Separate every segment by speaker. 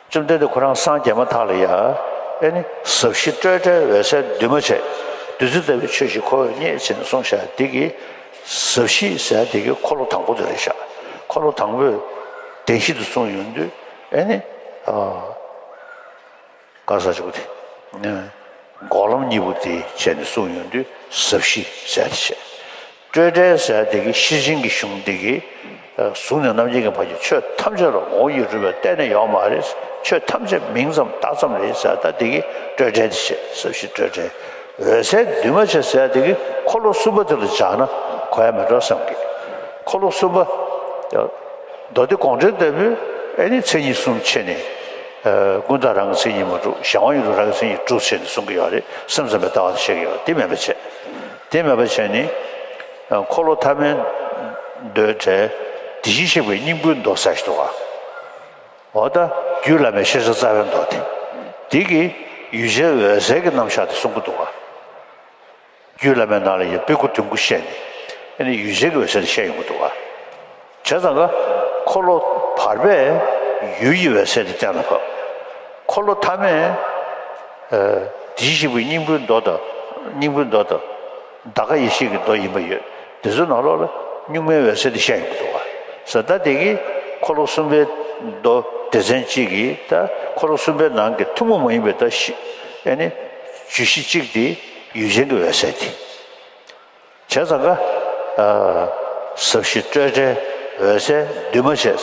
Speaker 1: བཅོམ་ལྡན་འདས་ཁོ་རང་སངས་རྒྱས་མ་ཐག་ལ་ཡང། ནི། ཟབ་ཞི་སྤྲོས་བྲལ་འོད་གསལ་འདུས་མ་བྱས། བདུད་རྩི་ལྟ་བུའི་ཆོས་བཞི་འཁོར་བའི་གནས་ཆེན་གསུང་ཞལ་འདེབས་ཀྱི། ཟབ་ཞི་ཞལ་འདེབས་ཀྱི་འཁོར་ལོ་དང་པོ་དེ་རེད་བཞག། འཁོར་ལོ་དང་པོས། བདེན་བཞི་དུ་གསུངས་ཡོང་དུས། ནི། བཀའ་ས་བཅུག་སྟེ། འགོག་ལམ་གཉིས་པོ་དེ་བྱས་ནས་སྲུང་ཡོང་དུས་ཟབ་ཞི་གསལ་ཏེ་བྱས། སྤྲོས་བྲལ་གསལ་ཏེ་ཀྱི་ཤེར་ཕྱིན་གྱི་གཞུང་འདི་གི། གཟུགས་ནས་རྣམ་མཁྱེན་གྱི་བར་གྱི་ཆོས་ཐམས་ཅད་ལ་ངོ་བོ་ཡེ་གྲུབ་པའི་གཏན་ནས་ཡོད་མ་རེད། ཆོས་ཐམས་ཅད་མིང་ཙམ་བཏགས་ཙམ་རེད་གསལ་ལྟ་དེ་ཀྱི་སྤྲོས་བྲལ་དེ་བྱས་ཟབ་ཞི་སྤྲོས་བྲལ་འོད་གསལ་འདུས་མ་བྱས་གསལ་ཏེ་ཀྱི་འཁོར་ལོ་གསུམ་པ་དེ་ལ་སྦྱར་ན་གོ་ཡ་མི་འགྲོ་བསམ་གི། འཁོར་ལོ་གསུམ་པ། མདོ་སྡེ་དགོངས་འགྲེལ་ལྟ་བུའི་ཨེ་ནི་མཚན་ཉིད་གསུམ་ཕྱེ་ནས། ཀུན་བཏགས་རང་གི་མཚན་ཉིད་མ་གྲུབ་གཞན་དབང་ཡིན་རུང་རང་གི་མཚན་ཉིད་གྲུབ་ཆེད་ནི་གསུང་གི་ཡོད་རེད་སེམས་ཙམ་པའི་ལྟ་བ་དང་བཤད་ཀྱི་ཡོད་དེ་མེད་པ་བྱེད། དེ་མེད་པ་བྱེད་ནི། འཁོར་ལོ་ཐ་མའི་མདོའི་གྲལ། དེ་བཞིན་གཤེགས་པའི་སྙིང་པོའི་མདོ་ཟ་ཞིག་ཏུ་བ། འོ་ད་རྒྱུད་བླ་མའི་ཤེས་བྱ་རྩ་བའི་མདོ་སྟེ། དེ་གི་ཡུལ་ཅན་འོད་གསལ་གྱི་རྣམ་གཞག་དེ་གསུང་གི་འདུག་ག། རྒྱུད་བླ་མའི་ནང་ལ་ཡང་པི་ཀོ་དུད་འགུ་བཤད་ནས་ཨེ་ནི་ཡུལ་གཞན་གྱི་འོད་ཟེར་བཤད་ཡོང་གི་འདུག་བ། བྱས་ཙང་ཀ། འཁོར་ལོ་བར་པས་ཡུལ་གྱི་འོད་ཟེར་དེ་སྟེང་ལ་ཕབ། འཁོར་ལོ་ཐ་མས། དེ་བཞི་པོ་སྙིང་པོའི་མདོ་དང། སྙིང་པོའི་མདོ་དང། འདའ་ཀ་ཡེ་ཤེས་ཀྱི་མདོ་ཡིན་པ་ཡོད། དེ་ཚོའི་ནང་ལོགས་ལ་གཉུག་མའི་འོད་ཟེར་དེ་བཤད་ཡོང་གི་འདུག་བ། ས་བདག་དེ་གིས་འཁོར་ལོ་གསུམ་པའི་མདོ་སྡེ་ཚན་གཅིག་གིས་ད་འཁོར་ལོ་གསུམ་པའི་ནང་གི་ཐུན་མོང་མ་ཡིན་པའི་ད་བཞི། ཨེ་ནི། བཅུད་བཞི་གཅིག་དེ། ཡུལ་ཅན་གྱི་འོད་གསལ་གྱི། བྱས་ཙང་ཀ། ཟབ་ཞི་སྤྲོས་བྲལ་འོད་གསལ་འདུས་མ་བྱས།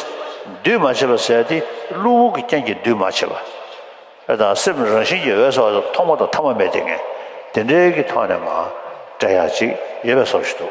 Speaker 1: འདུས་མ་བྱས་པ་ཟད་དེ་བློ་བུར་གྱི་རྐྱེན་གྱིས་འདུས་མ་བྱས་པ། དང་སེམས་རང་བཞིན་གྱིས་འོད་གསལ་བ་ཐོག་མ་དང་ཐ་མ་མེད་དེ་ངེས། དེ་འདྲའི་གི་ཐོག་ནས་མ། བྲལ་ཡང་ཅིག་ཡོད་པའི་སོགས་བཞི་དུ།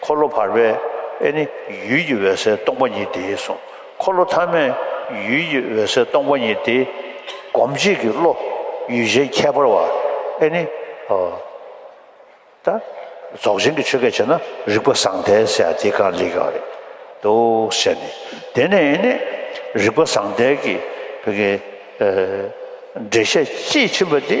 Speaker 1: འཁོར་ལོ་བར་པའི་ཨེ་ནི་ཡུལ་གྱི་འོད་གསལ་སྟོང་པ་ཉིད་དེའི་གཟུངས་འཁོར་ལོ་ཐ་མས་ཡུལ་གྱི་འོད་གསལ་སྟོང་པ་ཉིད་དེ། སྒོམ་བྱེད་ཀྱི་བློ་ཡུལ་གཞན་ཁྱད་པར་བ་ཨེ་ནི། ད་རྫོགས་ཆེན་གྱི་ཆོས་སྐད་བྱས་ན་རིག་པ་ཟང་ཐལ་ཟེར་ཡ་དེ་གང་ལེགས་ཡོད་རེད་འདུག་ཟེར་ནས་དེ་ནས་ཨེ་ནི་རིག་པ་ཟང་ཐལ་གྱི་བོད་སྐད་འགྲེལ་བཤད་དཔྱིས་ཕྱིན་པ་དེ།